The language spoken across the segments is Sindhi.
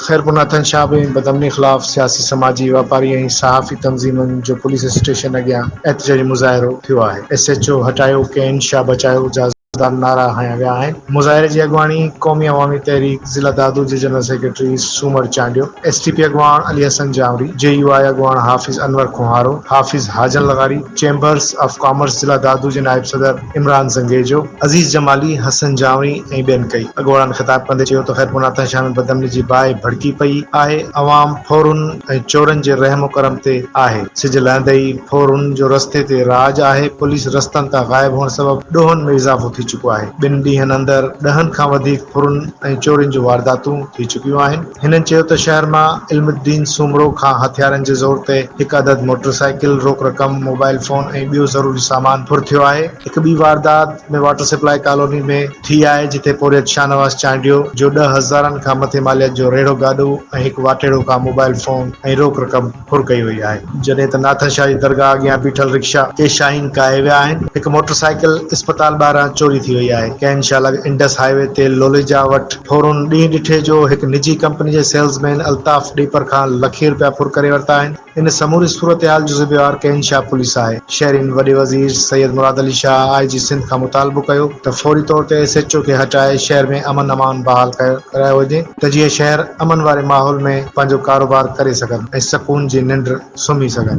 خيرپور ناٿن شاهه به بدامني خلاف سياسي، سماجي، واپاري ۽ صحافي تنظيمن جو پوليس اسٽيشن اڳيان احتجاجي مظاهرو ٿيو آهي، ايس ايڇ او هٽايو، ڪين شاهه بچايو جا. خلاف نعرا هنيا ويا آهن، مظاهري جي اڳواڻي قومي عوامي تحريڪ ضلع دادو جي general secretary Soomar Chandio, S T P اڳواڻ علي حسن جانوري، جي يو آء اڳواڻ حافظ انور کوهارو، حافظ حاجن لغاري، چيمبرز آف ڪامرس ضلع دادو جي نائب صدر عمران زنگيجو، عزيز جمالي، حسن جانوري ۽ ٻين ڪئي اڳواڻن خطاب ڪندي چيو ته خيرپور ناتان شاهه ۾ بدامني جي باهه ڀڙڪي پئي آهي، عوام ڦورن ۽ چورن جي رحم و ڪرم تي آهي، سج لهندي ئي. ڦورن جو رستي تي راڄ آهي، پوليس رستن تان غائب هئڻ سبب ڏوهن ۾ اضافو ٿي چڪو آهي، ٻن ڏينهن اندر ڏهن کان وڌيڪ ڦرن ۽ چورين جون وارداتون ٿي چڪيون آهن، هنن چيو ته شهر مان علم الدين سومرو کان هٿيارن جي زور تي هڪ عدد موٽر سائيڪل، روڪ رقم، موبائل فون ۽ ٻيو ضروري سامان ڦر ٿيو آهي، هڪ ٻي واردات ۾ واٽر سپلاء ڪالوني ۾ ٿي آهي جتي پورهيت شاهنواز چانڊيو جو ڏهه هزارن کان مٿي ماليت جو ريڙهو گاڏو ۽ هڪ واٽهڙو کان موبائل فون ۽ روڪ رقم ڦر ڪئي وئي آهي، جڏهن ته ناٿن شاهه جي درگاهه اڳيان بيٺل رڪشا ڪي شاهين ڪاهي ويا آهن، هڪ موٽر سائيڪل اسپتال ٻاهران چوري ٿي وئي آهي، ڪئن شاهه لڳ انڊس هاء وي تي لوليجا وٽ ڦرن ڏينهن ڏٺي جو هڪ نجي ڪمپني جي سيلز مين الطاف ڏيپر کان لکين رپيا ڦر ڪري ورتا آهن، ان سموري صورتحال جو ذميوار ڪئن شاهه پوليس آهي، شهرين وڏي وزير سيد مراد علي شاهه آء جي سنڌ کان مطالبو ڪيو ته فوري طور تي ايس ايڇ او کي هٽائي شهر ۾ امن امان بحال ڪرايو وڃي. ته جيئن شهر امن واري ماحول ۾ پنهنجو ڪاروبار ڪري سگهن ۽ سڪون جي ننڊ سمهي سگهن.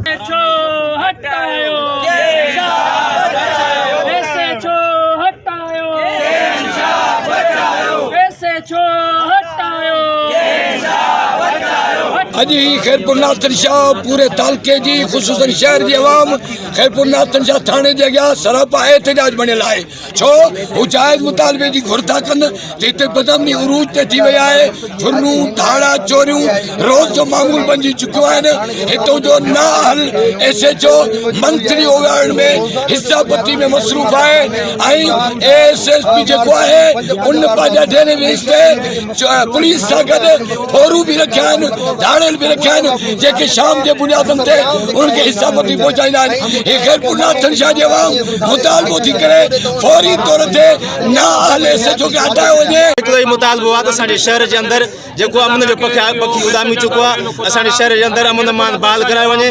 اڄ هي خيرپور ناٿن شاهه پوري تعلقي جي خصوصن شهر جي عوام خيرپور ناٿن شاهه ٿاڻي جي اڳيان سراپا احتجاج بڻيل آهي ڇو هو جائز مطالبي جي گهر ٿا ڪن ته هتي بدامني عروج تي ٿي وئي آهي، ڦرلون، ڌاڙا، چوريون روز جو معمول بنجي چڪيون آهن، هتو جو نااهل ايس ايڇ او منٿلي اوڳاڙڻ ۾ حصه پتي ۾ مصروف آهي ۽ اي ايس ايس پي جيڪو آهي ان پنهنجا ڍيري ويسٽي پوليس سان گڏ ڦورون به رکيا آهن، ڌاڙيل به رکيا آهن، جيڪي شام جي بنيادن تي انهن کي حصا پتي پهچائيندا آهن. هي خيرپور ناٿن شاهه جي عوام مطالبو ٿي ڪري فوري طور تي نااهل ايس ايڇ او کي هٽايو وڃي. هڪڙو ئي مطالبو آهي ته اسان جي شهر جي اندر جيڪو امن جو پکي اڏامي چڪو آهي، اسان جي شهر جي اندر امن امان بحال ڪرايو وڃي.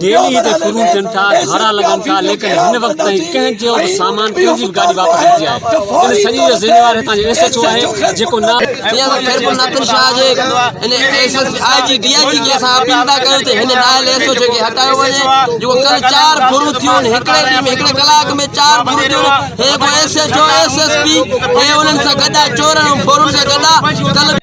ڊيلي تي شروع ٿين ٿا، ڌاڙا لڳن ٿا، ليڪن هن وقت تائين ڪنهن چيو ته سامان ڪنهن جي به گاڏي واپس نٿي آئي، ان سڄي جو ذميوار هتان جو ايس ايڇ او آهي جيڪو نه جيئن ته خيرپور ناٿن شاهه جي ان S S P, I G, D I G کي اسان اپيل ٿا ڪيون ته هن نااهل ايس ايڇ او کي هٽايو وڃي جيڪو ڪل چار ڀرون ٿيون هڪڙي ڏينهن ۾ هڪڙي ڪلاڪ ۾ چار ڀرون ٿيون هي ڪو S H O, S S P هي انهن سان گڏ آهي چورن ۽ ڀورن سان گڏ آهي ڪل